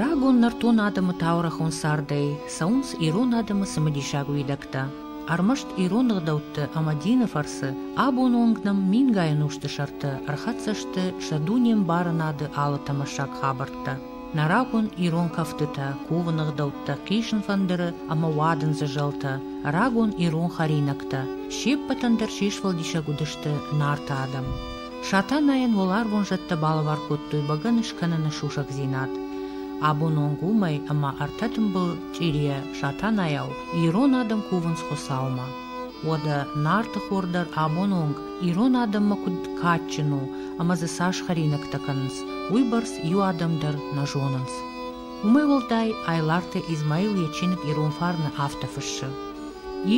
Рагон нӕртон адӕмы таурӕхон цардӕй цӕуынц ирон адӕмы цымыдисаг уидӕгтӕ. Ӕрмӕст ирон ӕгъдӕутты ӕмӕ дины фӕрцы абоны онг нӕм мингай ӕнусты сӕрты ӕрхӕццӕ сты сӕ дуне мбарынады алы тӕмӕссаг хабӕрттӕ. Нӕ рагон ирон кӕфтытӕ, кувыны гъдӕуттӕ, хъисын фӕндыры ӕмӕ уадындзы зӕлтӕ, рагон ирон хӕринӕгтӕ, се ппӕтӕн дӕр се сфӕлдисӕг уыдысты Нарты адӕм. Сатанайӕн уӕларвон зӕдтӕ балӕвар кодтой бӕгӕны скӕныны сусӕгдзинад. Абон онг уымӕй ӕмӕ ӕртӕ тымбыл чъирийӕ Сатанайау ирон адӕм кувынц Хуыцаумӕ. Уӕдӕ нартыхор дӕр абон онг ирон адӕммӕ куыд кадджын у ӕмӕ дзы цас хӕринӕгтӕ кӕнынц, уыйбӕрц иу адӕм дӕр нӕ зонынц. Уымӕй уӕлдай Айларты Измаил йӕ чиныг «Ирон фарн»-ы афтӕ фыссы.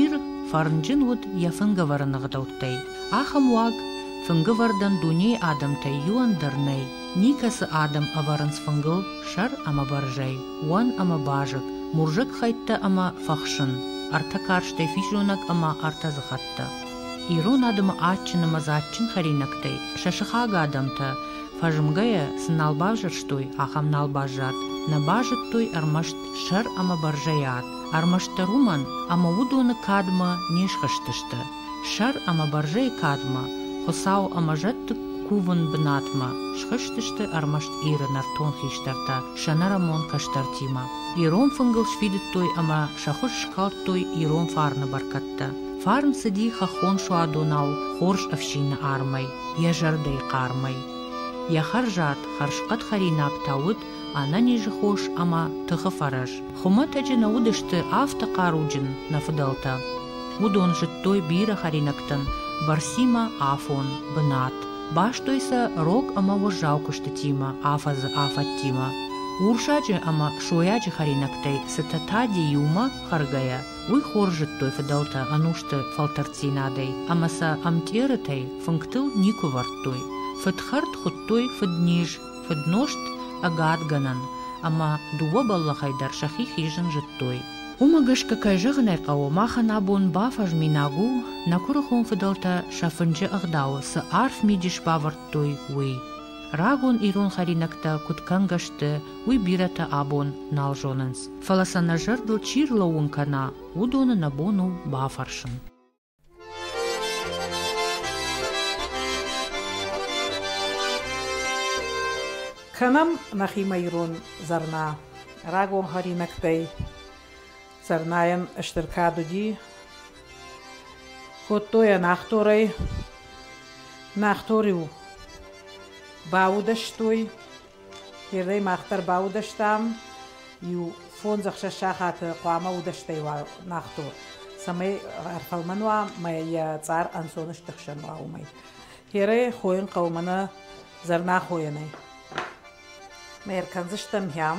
Ир фӕрнджын уыд йӕ фынгӕвӕрӕны ӕгъдӕуттӕй. Ахӕм уаг фынгӕвӕрдӕн дунейы адӕмтӕй иуӕн дӕр нӕй, Никӕцы адӕм ӕвӕрынц фынгыл сӕр ӕмӕ бӕрзӕй, уӕн ӕмӕ базыг, мурзӕг хӕйттӕ ӕмӕ фӕхсын, ӕртӕ карстӕй физонӕг ӕмӕ ӕртӕ дзыхӕттӕ. Ирон адӕмы адджын ӕмӕ дзаджджын хӕринӕгтӕй сӕ сыхаг адӕмтӕ, фӕзмгӕйӕ цы нал бавзӕрстой, ахӕм нал баззад. Нӕ базыдтой ӕрмӕст сӕр ӕмӕ бӕрзӕйы ад, ӕрмӕстдӕр уымӕн, ӕмӕ уыдоны кадмӕ не схызтысты. Сӕр ӕмӕ бӕрзӕйы кадмӕ, Хуыцау ӕмӕ зӕдты кувын бынатмӕ схызтысты ӕрмӕст Иры нӕртон хистӕртӕ сӕнӕрӕмон кӕстӕртимӕ. Ирон фынгыл сфидыдтой ӕмӕ сӕ хуыз скалдтой ирон фарны бӕркӕдтӕ. Фарн цыди хӕххон суадонау хорз ӕфсины армӕй, йӕ зӕрдӕйы хъармӕй. Йӕ хӕрзад, хӕрзхъӕд хӕринаг та уыд ӕнӕнизы хос ӕмӕ тыхы фӕрӕз. Хуымӕтӕджы нӕ уыдысты афтӕ хъаруджын нӕ фыдӕлтӕ. Уыдон зыдтой бирӕ хӕринӕгтӕн бӕрцимӕ афон, бынат, бастой сӕ рог ӕмӕ уӕззау куыстытимӕ, афӕдзы афӕдтимӕ. Урсаджы ӕмӕ сойаджы хӕринӕгтӕй цытӕ Тади иумӕ хӕргӕйӕ, уый хорз зыдтой фыдӕлтӕ ӕнусты фӕлтӕрддзинадӕй ӕмӕ сӕ ӕмтъерытӕй фынгтыл никуы вӕрдтой. Фыд хӕрд хуыдтой фыдниз. Фыднозт ӕгадгӕнӕн ӕмӕ дыууӕ бӕллӕхӕй дӕр сӕхи хизын зыдтой. Уымӕ гӕсгӕ, кӕй зӕгъын ӕй хъӕуы, махӕн абон бафӕзминаг у, нӕ куырыхон фыдӕлтӕ сӕ фынджы ӕгъдауы цы арф мидис бавӕрдтой, уый. Рагон ирон хӕринӕгтӕ куыд кӕнгӕ сты, уый бирӕтӕ абон нал зонынц. Фӕлӕ сӕ нӕ зӕрдыл чи рлӕууын кӕна, уыдоны нӕ бон у бафӕрсын. Кӕнӕм нӕхимӕ ирон зӕрнӕ. Рагон хӕринӕгтӕй зӕрнӕйӕн стыр кад уыди. Кодтой йӕ нӕхторӕй. Нӕхтор-иу баудӕстой, Ердӕй мах дӕр баудӕстам. Иу фондзӕхсӕз сахаты хъуамӕ удӕстӕй уа нӕхто, цӕмӕй ӕрфӕлмӕн уа мӕ йӕ цъар ӕнцон стыхсӕн уа уымӕй. Ерӕй хойын хъӕуы мӕнӕ зӕрнахойӕнӕй. Мӕ ӕркӕндзыстӕм хӕм,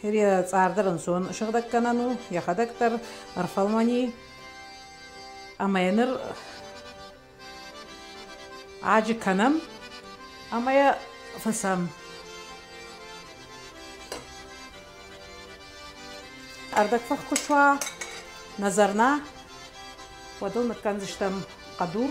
Хире цъардӕр ӕнцон сыгъдӕггӕнӕн у, йӕхӕдӕг дӕр ӕрфӕлмӕни ӕмӕ йӕ ныр аджы кӕнӕм ӕмӕ йӕ фысӕм. Ӕрдӕгфых куы суа, нӕ зӕрнӕ, уӕд ыл ныккӕндзыстӕм хъӕдур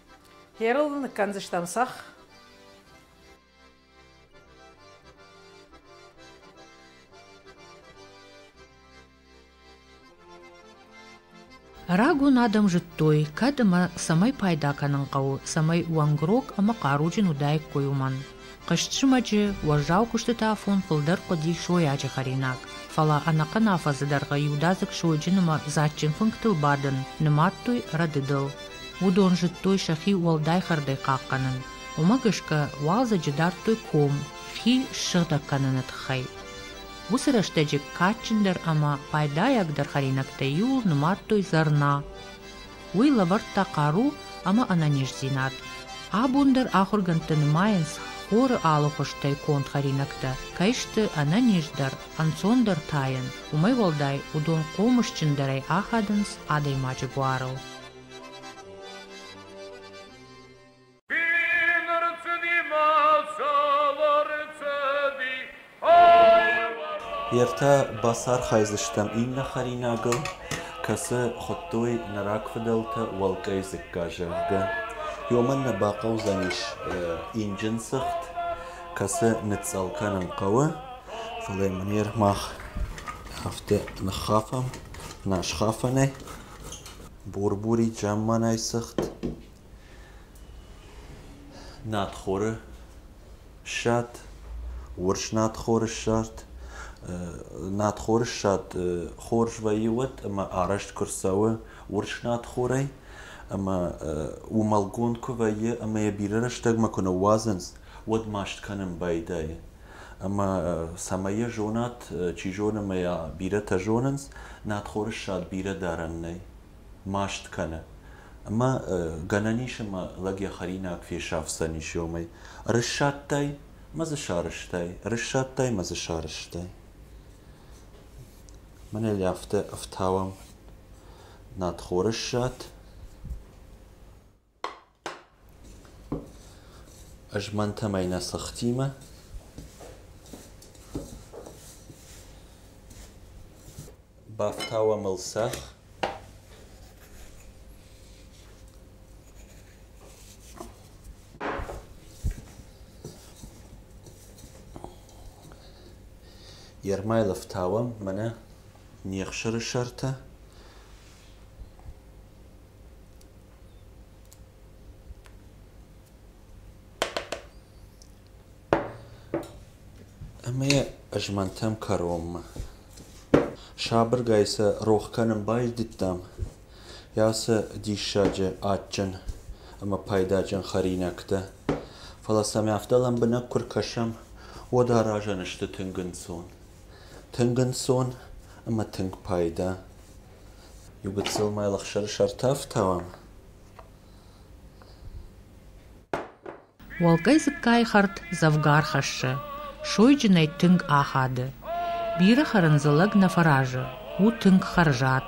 Ӕрыл ныккӕндзыстӕм цӕхх. Рагон адӕм зыдтой, кӕд ӕмӕ цӕмӕй пайда кӕнын хъӕуы, цӕмӕй уӕнгрог ӕмӕ хъаруджын уыдаиккой уымӕн. Хъызт зымӕджы уӕззау куыстыты афон фылдӕр хъуыди сойаджы хӕринаг, фӕлӕ ӕнӕхъӕн афӕдзы дӕргъы иудадзыг сойджын ӕмӕ дзаджджын фынгтыл бадын, нымадтой рӕдыдыл. Уыдон зыдтой сӕхи уӕлдай хӕрдӕй хъахъхъӕнын. Уымӕ гӕсгӕ уалдзӕджы дардтой ком, хи ссыгъдӕг кӕныны тыххӕй. Уыцы рӕстӕджы кадджындӕр ӕмӕ пайдайагдӕр хӕринӕгтӕй иуыл нымадтой зӕрна. уый лӕвӕрдта хъару ӕмӕ ӕнӕниздзинад. Абон дӕр ахуыргӕндты нымайынц, хоры алыхуызтӕй конд хӕринӕгтӕ кӕй сты ӕнӕниздӕр, ӕнцондӕр тайӕн, уымӕй уӕлдай уыдон хъомысджындӕрӕй ахадынц адӕймаджы буарыл. Ертӕ бацархайдзыстӕм иннӕ хӕринагыл, кӕцы хуыдтой нӕ рагфыдӕлтӕ уӕлкъӕй дзыкка, зӕгъгӕ. Уымӕн нӕ бахъӕудзӕнис инджын цыхт, кӕцы ныцъцъӕл кӕнын хъӕуы, фӕлӕ мын ер мах афтӕ ныххафӕм, нӕ схафӕнӕй, бурбурид замманай цыхт. Надхоры ссад, урс надхоры ссад. надхоры ссад хорз вӕййы уӕд ӕмӕ арӕзт куы рцӕуы урс надхорӕй ӕмӕ уымӕлгонд куы вӕййы ӕмӕ йӕ бирӕ рӕстӕгмӕ куы ныууадзынц, уӕд маст кӕнын байдайы. Ӕмӕ цӕмӕй йӕ зонат, чи зоны ӕмӕ йӕ бирӕтӕ зонынц, надхоры ссад бирӕ дарӕн нӕй. маст кӕны. Ӕмӕ гӕнӕн ис ӕмӕ лӕг йӕ хӕринаг фесафдзӕнис ёмӕй. Рыссадтай мӕ дзы сарызтай, рыссадтай мӕ дзы сарызтай. Мӕнӕ йӕ афтӕ ӕфтауӕм. Надхорыссад. Ӕз мӕнтӕмӕй нӕ сыхтимӕ Бафтауӕм ыл цӕхх Йе рмӕйыл ӕфтауӕм мӕнӕ не хсыры сӕртӕ Ӕмӕ йӕ ызмӕнтӕм кӕронмӕ. Сабыргай сӕ рох кӕнын байдыдтам. Йӕ ацы диссаджы адджын ӕмӕ пайдаджын хӕринӕгтӕ. Фӕлӕ сӕм афтӕ лӕмбынӕг куы ркӕсӕм, уӕд аразӕн сты тынг ӕнцон. Тынг ӕнцон ӕмӕ тынг пайда. Иу гыццыл ма йыл ӕхсӕрысӕр ӕртӕ ӕфтауӕм? Уӕлгӕй дзыккайы хӕрд дзӕвгар хӕссы, сойджынӕй тынг ахады. Бирӕ хӕрын дзы лӕг нӕ фӕразы, у тынг хӕрзад.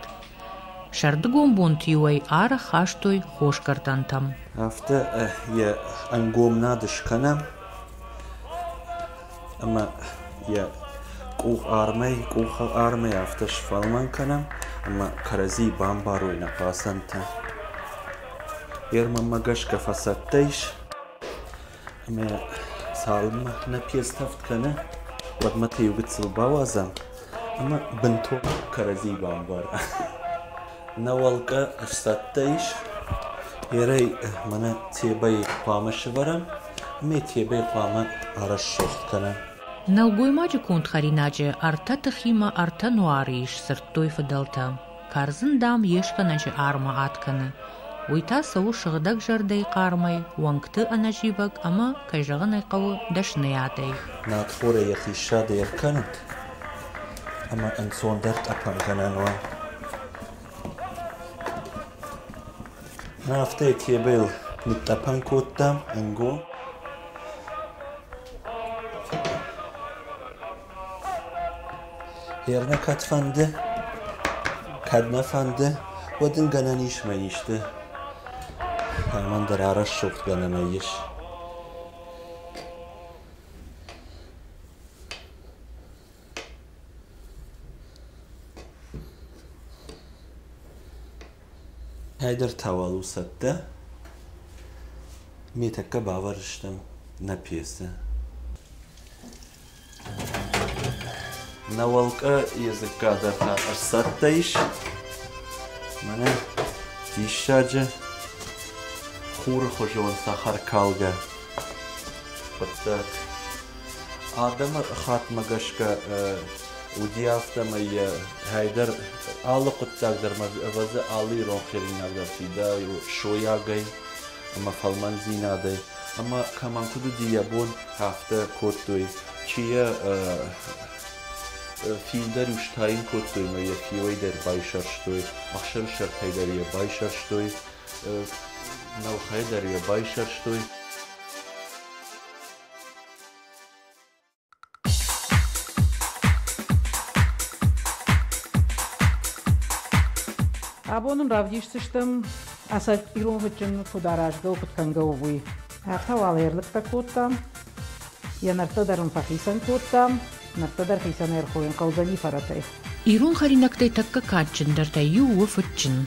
Сӕрдыгон бонты-иу ӕй арӕх хастой хос гӕртӕнтӕм. Афтӕ йӕ ӕнгомнад скӕнӕм. ӕмӕ йӕ къухармӕй, къухармӕй афтӕ сфӕлмӕн кӕнӕм, ӕмӕ кӕрӕдзийы бамбарой нӕ хъацӕнтӕ. Фермӕмӕ гӕсгӕ фӕцӕттӕ ис, ӕмӕ цалынмӕ нӕ пецтӕфт кӕны, уӕдмӕ та иу гыццыл бауадзӕм ӕмӕ бынтон кӕрӕдзи бамбарӕм. Нӕ уӕлкъа ӕфсадтӕ ис. Ерӕй мӕнӕ тебӕйы хъуамӕ сӕвӕрӕм, ӕмӕ тебӕ хъуамӕ арӕсугъд кӕна. Нӕлгоймаджы конд хӕринаджы ӕртӕ тыхимӕ ӕртӕ нуары ис, сырдтой фыдӕлтӕ. Кӕрдзын, дам, йе скӕнӕджы армы ад кӕны. Уый та цӕуы сыгъдӕгзӕрдӕйы хъармӕй, уӕнгты ӕнӕзивӕг ӕмӕ, кӕй зӕгъын ӕй хъӕуы, дӕсныйадӕй. Надхорӕй йӕхи ссады ӕркӕнут, ӕма ӕнцондӕр тъӕпӕнгӕнӕн уа. Афтӕ йетебӕл нитътъӕпӕн кодтам ӕнгон. Ернӕ кӕд фӕнды, кӕд нӕ фӕнды, уӕд ин гӕнӕн ис мӕ исты амӕндӕр арӕсугъдгӕнӕнӕй ес. Ӕйдӕр та уал у цӕттӕ? Ме тӕккӕ бавӕрд стӕм нӕ пьесӕ. Нӕ уӕлкъа йӕ дзыкка дӕр та ӕрцӕттӕ ис. Мӕнӕ диссаджы хуры хуызон цӕхӕркалгӕ хъуыддаг. Адӕмы хаттмӕ гӕсгӕ уыди афтӕмӕй йӕ хӕйдӕр алы хъуыддаг дӕр мӕ ӕвӕрдзы алы ирон хӕринаг дӕр фидауы сойагӕй ӕмӕ фӕлмӕндзинадӕй ӕмӕ кӕмӕн куыд уыди йӕ бон, афтӕ кодтой. Чи йӕ фил дӕр иу стайын кодтой ӕмӕ йӕ фиуӕй дӕр байсӕрстой, ӕхсӕрсӕртӕй дӕр йӕ байсӕрстой, нӕлхӕй дӕр йӕ байсӕрстой. Абон ын равдисдзыстӕм, ӕцӕг-ирон куыд аразгӕ у, куыд кӕнгӕ у, уый. Афтӕ уал ӕрлыгтӕ кодтам, йӕ нӕрттӕ дӕр ын фӕхицӕн кодтам, Нартӕ дӕр хицӕн ӕрхойын хъӕудзӕни фӕрӕтӕй. Ирон хӕринӕгтӕй тӕккӕ кадджындӕртӕй иу у фыдджын.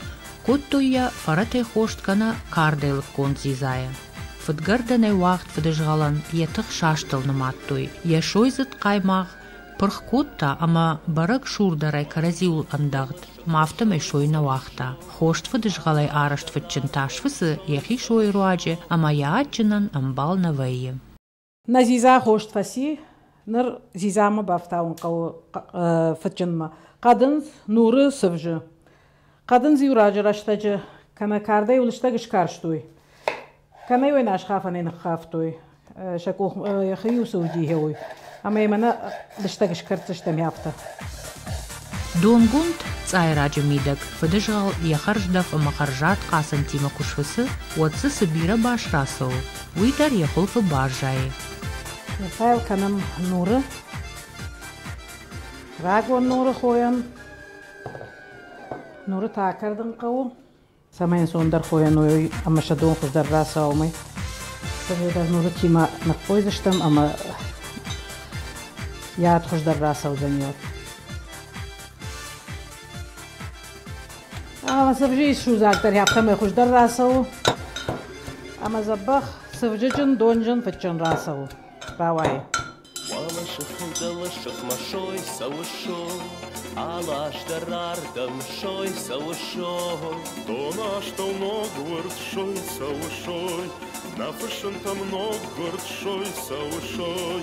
Кодтой йӕ, фӕрӕтӕй хост кӕнӕ кардӕй лыггонд дзидзайӕ. Фыдгӕрдӕнӕй уагъд фыдызгъӕлӕн йӕ тых састыл нымадтой, йӕ сойдзыд хъаймагъ пырх кодта ӕмӕ бӕрӕг сурдӕрӕй кӕрӕдзиуыл ӕндӕгъд, ма афтӕмӕй сой нӕ уагъта. Хост фыдызгъӕлӕй арӕзт фыдджын тас фыцы йӕхи сойы руаджы ӕмӕ йӕ адджынӕн ӕмбал нӕ вӕййы. Нӕ дзидза хост фӕци. Ныр дзидзамӕ бафтауын хъӕуы фыдджынмӕ. Хъӕдындз нуры сывзы. Хъӕдындз-иу раджы рӕстӕджы кӕнӕ кардӕй уыныстӕг скарстой, кӕнӕ йыл асхафӕнӕй ныххафтой. Сӕ къух йӕхи-иу цы уыди, гъеуый. Ӕмӕ йӕ мӕнӕ лыстӕг скӕрддзыстӕм афтӕ. Донгонд цъайраджы мидӕг фыдызгъӕл йӕ хӕрздӕф ӕмӕ хӕрзад хъацӕнтимӕ куы сфыцы, уӕд дзы цы бирӕ бас рацӕуы, уый дӕр йӕ хуылфы баззайы. Ныффайл кӕнӕм нуры. Рагон нуры хойӕм. Нуры та кӕрдын хъӕуы. Цӕмӕй ӕнцондӕр хойӕн уой ӕмӕ сӕ дон хуыздӕр рацауа уымӕй. Сӕдӕдӕр нуры тимӕ ныххойдзыстӕм ӕмӕ яд хуыздӕр рацӕудзӕн йод. Сывджы исзудзаг дӕр ӕфтӕмӕй хуыздӕр рацӕуы ӕмӕ дзӕбӕх сывджыджын, донджын, фыдджын рацӕуы, рауайы. Уӕлысыхыл дӕлысыхмӕ сой цӕуы сой, аластӕр ардӕм сой цӕуы сой. Донастӕу ноггуырд сой цӕуы сой, нӕ фысымтӕм ноггуырд сой цӕуы сой.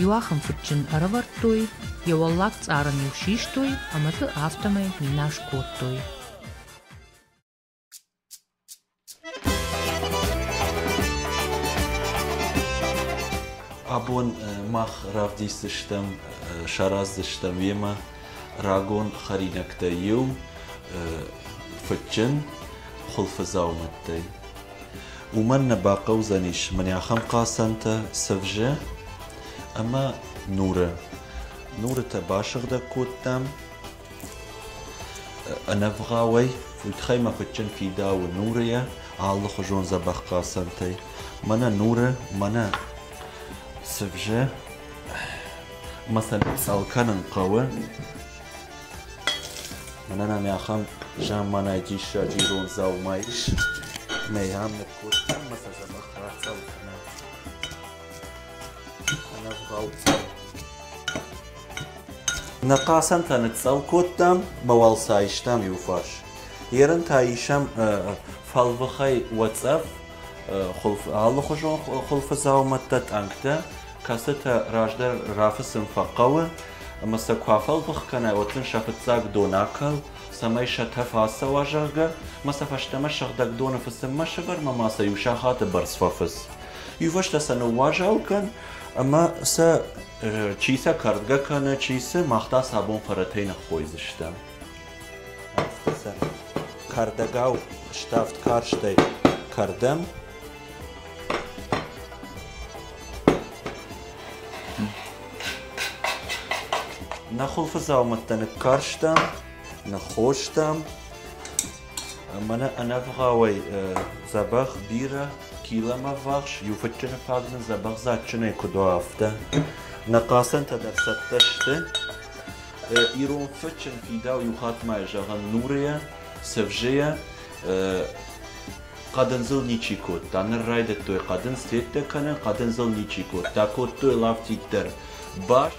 Иуахӕмфыдджын ӕрӕвӕрдтой, йӕ уӕллаг цъарӕн-иу систой ӕмӕ ты афтӕмӕй минас кодтой. Абон мах равдисдзыстӕм, сараздзыстӕм йемӕ рагон хӕринӕгтӕй иу, фыдджын хуылфы дзаумӕттӕй. уымӕн нӕ бахъӕудзӕнис мын ахӕм хъацӕнтӕ сывзы ӕмӕ нуры. Нуры та басыгъдӕг кодтам ӕнӕвгъауӕй, уый тыххӕй мӕ фыдджын фидауы нуры йӕ алыхуызон дзӕбӕх хъацӕнтӕй. Мӕнӕ нуры, мӕнӕ сывзы. Ӕмӕ сӕ сӕл кӕнын хъӕуы. Мӕнӕн ами ахӕм замманай диссаджи ирон дзаума ис, мӕй ам ныр кодтам ӕмӕ сӕ дзӕбӕх рацӕуы кӕнӕ. Ӕнӕвгъау Нӕ хъацӕнтӕ ныццӕл кодтам мӕ уал сӕ айстам иуфарс. Ерын та исӕм фӕлвыхӕй уӕ цӕф, алыхуызон хуылфы дзаумӕттӕ, тъӕнгтӕ, кӕцытӕ раздӕр рафыцын фӕхъӕуы ӕмӕ сӕ куы афӕлдых кӕнай, уӕд сын сӕ фыццаг дон акӕл, цӕмӕй сӕ тӕф ацӕуа, зӕгъгӕ, ӕмӕ сӕ фӕстӕмӕ сыгъдӕг доны фыцынмӕ сӕвӕрмӕ ма сӕ иу сахаты бӕрц фӕфыц. Иувӕстӕ сӕ ныууазал кӕн ӕмӕ сӕ чи сӕ кӕрдгӕ кӕны, чи цы, мах та сӕ абон фӕрӕтӕй ныххойдзыстӕм. Кӕрдӕгау ставд карстӕй кӕрдӕм Нӕ хуылфы дзаумӕттӕ ныккарстам, ныххостам ӕмӕ нӕ ӕнӕвгъауӕй дзӕбӕх бирӕ килӕм ӕввахс. Иу фыдджыны фаг нын дзӕбӕх дзаджджынӕй куыд уа, афтӕ. Нӕ хъацӕнтӕ дӕр цӕттӕ сты. ирон фӕчын фидау иу хатт ма зӕгъӕн нурӕ сӕвзӕ хъӕдындзыл ничи кодта ныр райдыдтой хъӕдындз теттӕ кӕнын хъӕдындзыл ничи кодта кодтой лафтит дӕр бас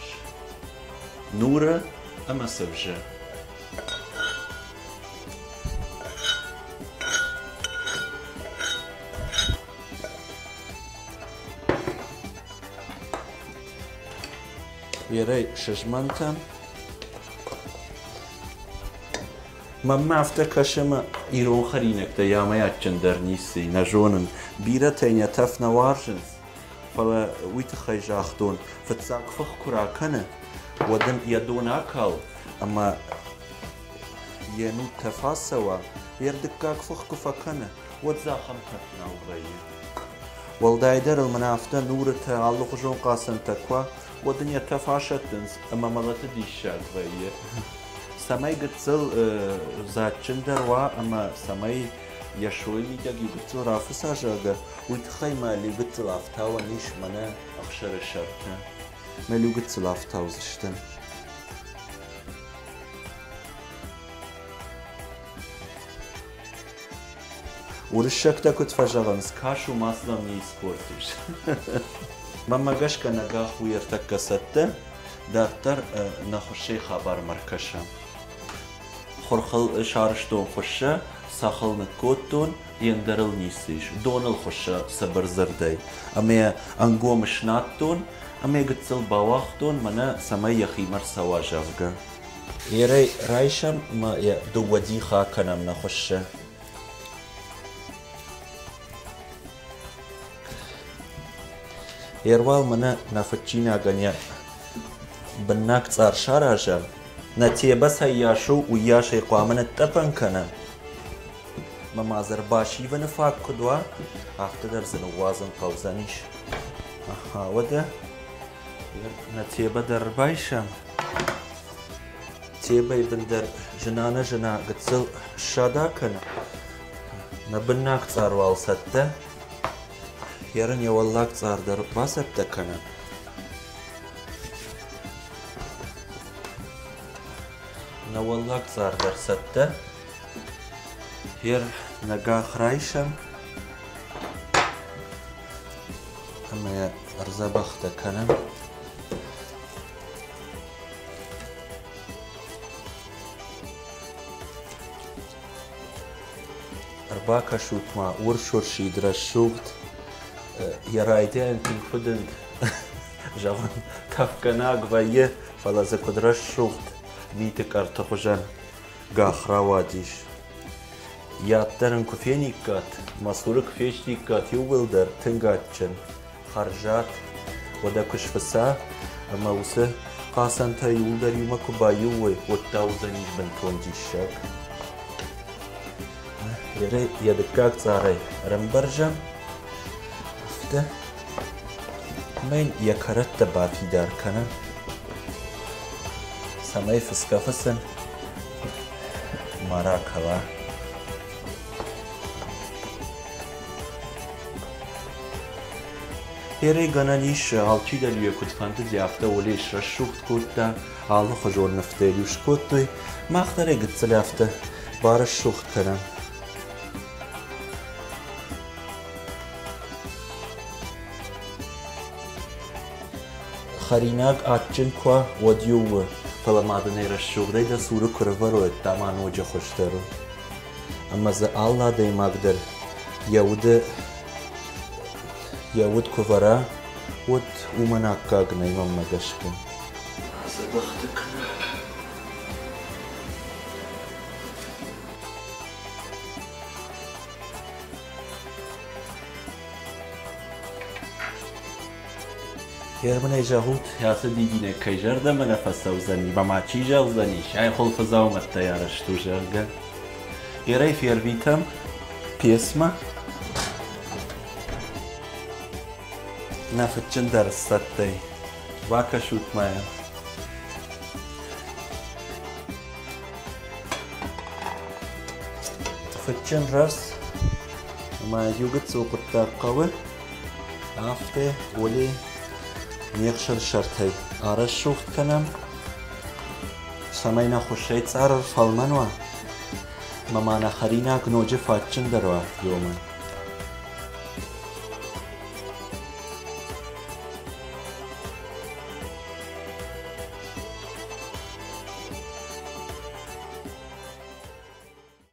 нуры ӕмӕ сӕвзӕ Берӕ сызмӕнтӕн. Мӕнмӕ афтӕ кӕсы, ӕмӕ ирон хӕринӕгтӕ ямӕй адджындӕр ници нӕ зонын. Бирӕтӕй нӕ тӕф нӕ уарзынц, фӕлӕ уый тыххӕй загътон, фыццаг фых куы ракӕны, уӕд ын йӕ дон акал ӕмӕ йе нуд тӕф ацӕуа, йе рдыггаг фых куы фӕкӕны, уӕд дзы ахӕм тӕф нал вӕййы. Уӕлдайдӕр ыл мӕнӕ афтӕ нурытӕ алыхуызон хъацӕнтӕ куы уа, уӕд ын йӕ тӕф асӕттынц ӕмӕ мӕлӕты диссаг вӕййы. Цӕмӕй гыццыл дзаджджындӕр уа ӕмӕ цӕмӕй йӕ сойы мидӕг иу гыццыл рафыца, зӕгъгӕ, уый тыххӕй мӕ иу гыццыл афтауӕн ис мӕнӕ ӕхсӕры сӕрты. Мӕ иу гыццыл афтаудзыстӕм. Уырыссӕгтӕ куыд фӕзӕгъынц, кӕс у Масломийы спортис. Мӕнмӕ гӕсгӕ нӕ гӕх у ӕртӕккӕ цӕттӕ, дарддӕр нӕ хуыссӕй хабармӕ ркӕсӕм. Хурхыл сарызтон хуыссӕ, сахыл ныккодтон, йе ндӕрыл ницы ис. Доныл хуыссӕ сабыр дзырдӕй. Ӕмӕ ӕнгом снадтон, ӕмӕ гыццыл бауагътон, мӕнӕ цӕмӕй йӕхимӕ рцӕуа, зӕгъгӕ. Ерӕй райсӕм ӕмӕ йӕ дыууӕ дихы акӕнӕм нӕ хуыссы. Ервал мӕнӕ нӕ фыдчинагӕн йӕ быннаг цъар сараза, нӕ тебӕсӕй йас у, уыййасӕй хъуамӕ ныттъӕпӕн кӕна. Мӕ мадзыр басивыны фаг куыд уа, афтӕ дӕр дзы ныууадзын хъӕудзӕнис. Ахаа, уӕдӕ Нӕ Тебӕ дӕр рбайсӕм? Тебӕйы бын дӕр зына-нӕзына гыццыл ссада кӕны. Нӕ быннаг цъар уал цӕттӕ? Йе рын йӕ уӕллаг цъар дӕр бацӕттӕ кӕнӕм. Нӕ уӕллаг цъар дӕр цӕттӕ? Йе ры нӕ гӕх райсӕм? ӕмӕ йӕ ӕрдзӕбӕхтӕ кӕнӕм. Ӕрбакӕсут-ма урс-урсид рӕсугъд, йӕ райдиан тынг зӕгъын тӕфгӕнаг вӕййы, фӕлӕ дзы куыд рӕсугъд миты кӕрты хуызӕн гӕх рауадис. Йӕддӕр ын куы фениккат, мӕ цуры куы фестиккат иу уӕлдӕр тынг адджын, хӕрзад, уӕдӕ куы сфыца, ӕмӕ уыцы хъацӕнтӕ иуылдӕр иумӕ куы баиуой, уӕд та уыдзӕнис бынтон диссаг. Йӕ дыккаг цъарӕй ӕрӕмбӕрзӕм, афтӕ, ӕмӕ йын йӕ кӕрӕттӕ бафидар кӕнӕм, цӕмӕй фысгӕ фыцын маракала эрӕ гӕнӕн ис алчидӕр куыдфӕндыди афтӕ уылӕй срӕсугъд кодта алыхуызон нывтӕ иу скодтой мах дӕр ӕй гыццыл афтӕ барӕсугъд кӕнӕм Хӕринаг адджын куы уа, уӕд-иу у, фӕлӕ мадынӕй рӕсугъдӕй дӕ цуры куы рывӕройд ӕмӕ ноджы хуыздӕр у. Ӕмӕ дзы алы адӕймаг дӕр йӕ уды йӕ уд куы вӕра, уӕд уымӕн аккаг нӕй мӕнмӕ гӕсгӕ. Ацы бӕхты кӕнӕ. Германӕй зӕгъут, ацы дидинӕг кӕй зӕрдӕмӕ нӕ фӕцӕудзӕни ӕмӕ ма чи зӕгъдзӕни, сӕ хъулфы дзаумӕттӕй арӕзт у, зӕгъгӕ. Ерӕй фервитӕм пьесмӕ. Нӕ фыдджындӕр сцӕттӕй. Бакӕсут мӕ. Фыдджын рӕс ӕмӕ иугыццыл хъуыддаг хъӕуы. Афтӕ, Оли, не хсырсӕртӕй арӕсугъд кӕнӕм, цӕмӕй нӕ хуыссӕй цъарр фӕлмӕн уа ӕмӕ ма нӕ хӕринаг ноджы фӕтджындӕр уа иумӕ.